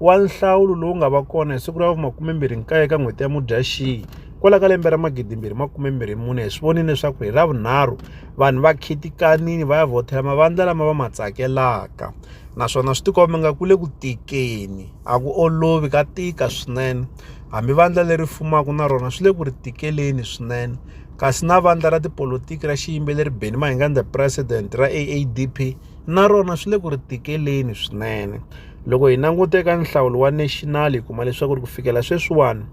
wa nhlawulo lowu nga va kona hi siku ra vu-29 ka n'hweti ya Mudyaxihi kwala ka lembe ra magidimbirhi makume mbirhi mune hi swi vonile leswaku hi ravunharhu vanhu va khitikanini va ya vhothela mavandla lama va ma tsakelaka naswona swi tikomba nga ku le ku tikeni a ku olovi ka tika swinene hambi vandla leri fumaka na rona swi le ku ri tikeleni swinene kasi na vandla ra tipolotiki ra xiyimbeleri Benny Mayenganda president ra AADP na rona swi le ku ri tikeleni swinene loko hi languta eka nhlawulo wa national hi kuma leswaku ri ku fikela sweswiwani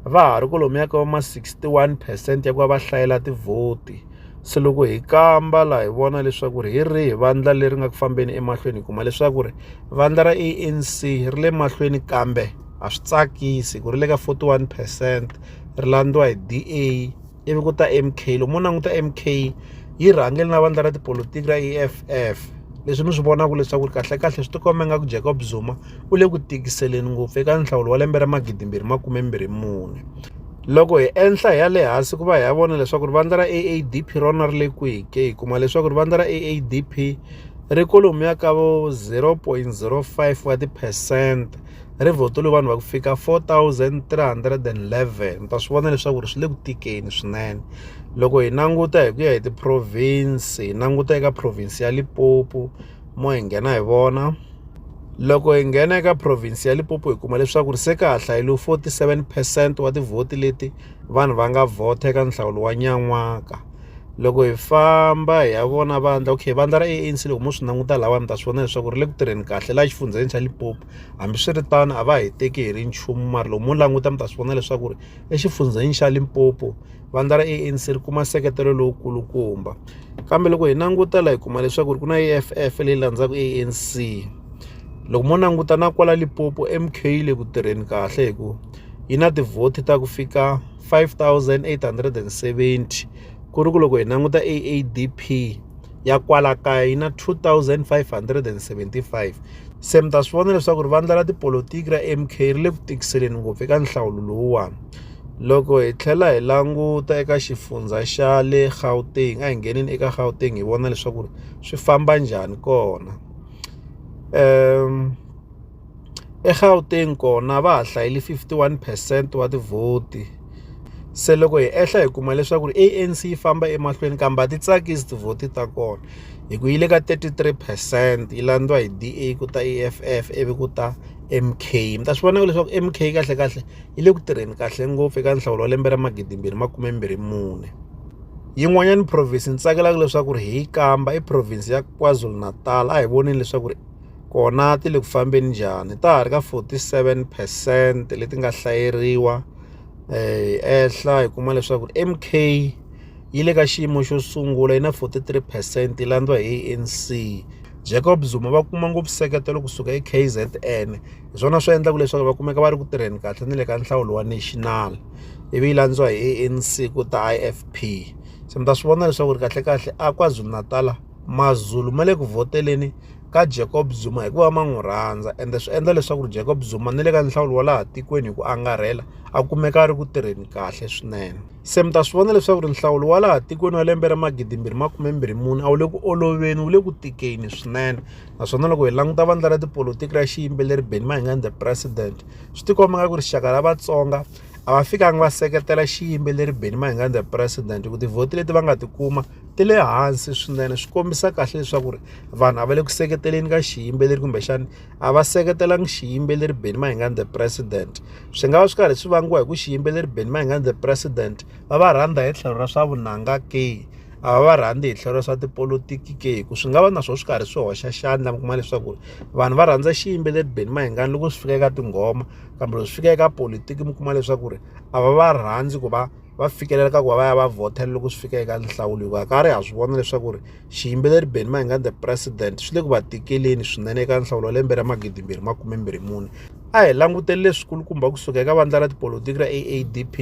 va ha ri kolomiya ka va ma 61 percent ya ku va va hlayela tivhoti se loko hi kamba laha hi vona leswaku ri hi rihi vandla leri nga ku fambeni emahlweni hi kuma leswaku ri vandla ra anc ri le mahlweni kambe a swi tsakisi ku ri le ka 41 percent ri landziwa hi da ivi ku ta mk loko mo languta mk yi rhangele na vandla ra tipolotiki ra eff leswi mi swi vonaka leswaku ri kahlekahle swi tikomba ingaku jacob zuma u le ku tikiseleni ngopfu eka nhlawulo wa lembe ra magidimbirhi makume mbirhi mune loko hi enhla hi ya le hansi ku va hi ya vona leswaku ri vandla ra aadp rona ri le kwihi ke hi kuma leswaku ri vandla ra aadp ri kolomuya ka vo 0.05 wa tiphesente ri vhotele vanhu va ku fika 4311 mi ta swi vona leswaku ri swi le ku tikeni swinene loko hi languta hi ku ya hi ti-province hi languta eka province ya Limpopo mo hi nghena hi vona loko hi nghena eka province ya Limpopo hi kuma leswaku ri se ka ha hlayile 47 percent wa tivhoti leti vanhu va nga vhota eka nhlawulo wa nyan'waka loko hi famba hi ya vona vandla okay vandla ra ANC loko mo swi languta lawa mi ta swi vona leswaku ri le ku tirheni kahle laha exifundzheni xa Limpopo hambiswiritano a va hi teki hi ri nchumu mara loko mo languta mi ta swi vona leswaku ri exifundzheni xa Limpopo vandla ra ANC ri kuma nseketelo lowu kulukumba kambe loko hi languta la hi kuma leswaku ri ku na EFF leyi landzaka ANC loko mo languta na kwala Limpopo MK yi le ku tirheni kahle hi ku yi na tivhoti ta ku fika. 5870 ku ri ku loko hi languta AADP ya kwala kaya yi na 2575 se mi ta swi vona leswaku ri vandla ra tipolotiki ra MK ri le ku tikiseleni ngopfu eka nhlawulo lowuwani loko hi tlhela hi languta eka xifundza xa le Gauteng a hi ngheneni eka Gauteng hi vona leswaku swi famba njhani kona um eGauteng kona va ha hlayile 51 percent wa tivhoti se loko hi ehla hi kuma leswaku ANC yi famba emahlweni kambe a ti tsakisi tivhoti ta kona hi ku yi le ka 33 percent yi landziwa hi DA ku ta EFF ivi ku ta MK mi ta swi vona leswaku MK kahlekahle yi le ku tirheni kahle ngopfu eka nhlawulo wa lembe ra magidimbirhi makume mbirhi mune yin'wanyana province ni tsakelaka leswaku hi yi kamba i province ya KwaZulu-Natal a hi voneni leswaku kona ti le ku fambeni njhani ta ha ri ka forty seven percent leti nga hlaseriwa yi ehla hi kuma leswaku M_K yi le ka xiyimo xo sungula yi na forty three percent yi landziwa hi A_N_C Jacob Zuma va kuma ngopfu nseketelo kusuka eKZN hi swona swi endlaka leswaku va kumeka va ri ku tirheni kahle na le ka nhlawulo wa national ivi yi landziwa hi A_N_C ku ta I_F_P se mi ta swi vona leswaku ri kahlekahle a KwaZulu-Natal. Mazulu ma le ku vhoteleni ka Jacob Zuma hikuva ma n'wi rhandza ende swi endla leswaku ri Jacob Zuma ni le ka nhlawulo wa laha tikweni hi ku angarhela a kumeka a ri ku tirheni kahle swinene se mi ta swi vona leswaku ri nhlawulo wa laha tikweni wa lembe ra magidimbirhi makumembirhi mune a wu le ku oloveni wu le ku tikeni swinene naswona loko hi languta vandla ra tipolotiki ra xiyimbeleri Benny Mayengani the president swi tikomba nga ku rixaka ra Vatsonga a va fikanga va seketela xiyimbeleri Benny Mayengani the president hi ku tivhoti leti va nga ti kuma. ti le hansi swinene swi kombisa kahle leswaku ri vanhu a va le ku seketeleni ka xiyimbeleri kumbexana a va seketelangi xiyimbeleri Benny Mayengani the president swi nga va swi karhi swi vangiwa hi ku xiyimbeleri Benny Mayengani the president va va rhandza hi tlhelo ra swa vunanga ke a va va rhandzi hi tlhelo ra swa tipolotiki ke hi ku swi nga va na swona swi karhi swi hoxa xandla mi kuma leswaku vanhu va rhandza xiyimbeleri Benny Mayengani loko swi fika eka tinghoma kambe loko swi fika eka politiki mi kuma leswaku ri a va va rhandzi ku va va fikelela ka ku va va ya va vhotela loko swi fika eka nhlawulo hikuva ka ri ha swi vona leswaku ri xiyimbeleri benny mayengani the president swi le ku va tikeleni swinene eka nhlawulo wa lembe ra magidi mbirhi makume mbirhi mune a hi languteli leswikulukumba kusuka eka vandla ra tipolotiki ra aadp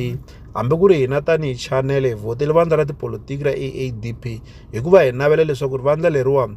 hambi ku ri hina tanihi chanele hi vhotele vandla ra tipolotiki ra aadp hikuva hi navela leswaku ri vandla leriwani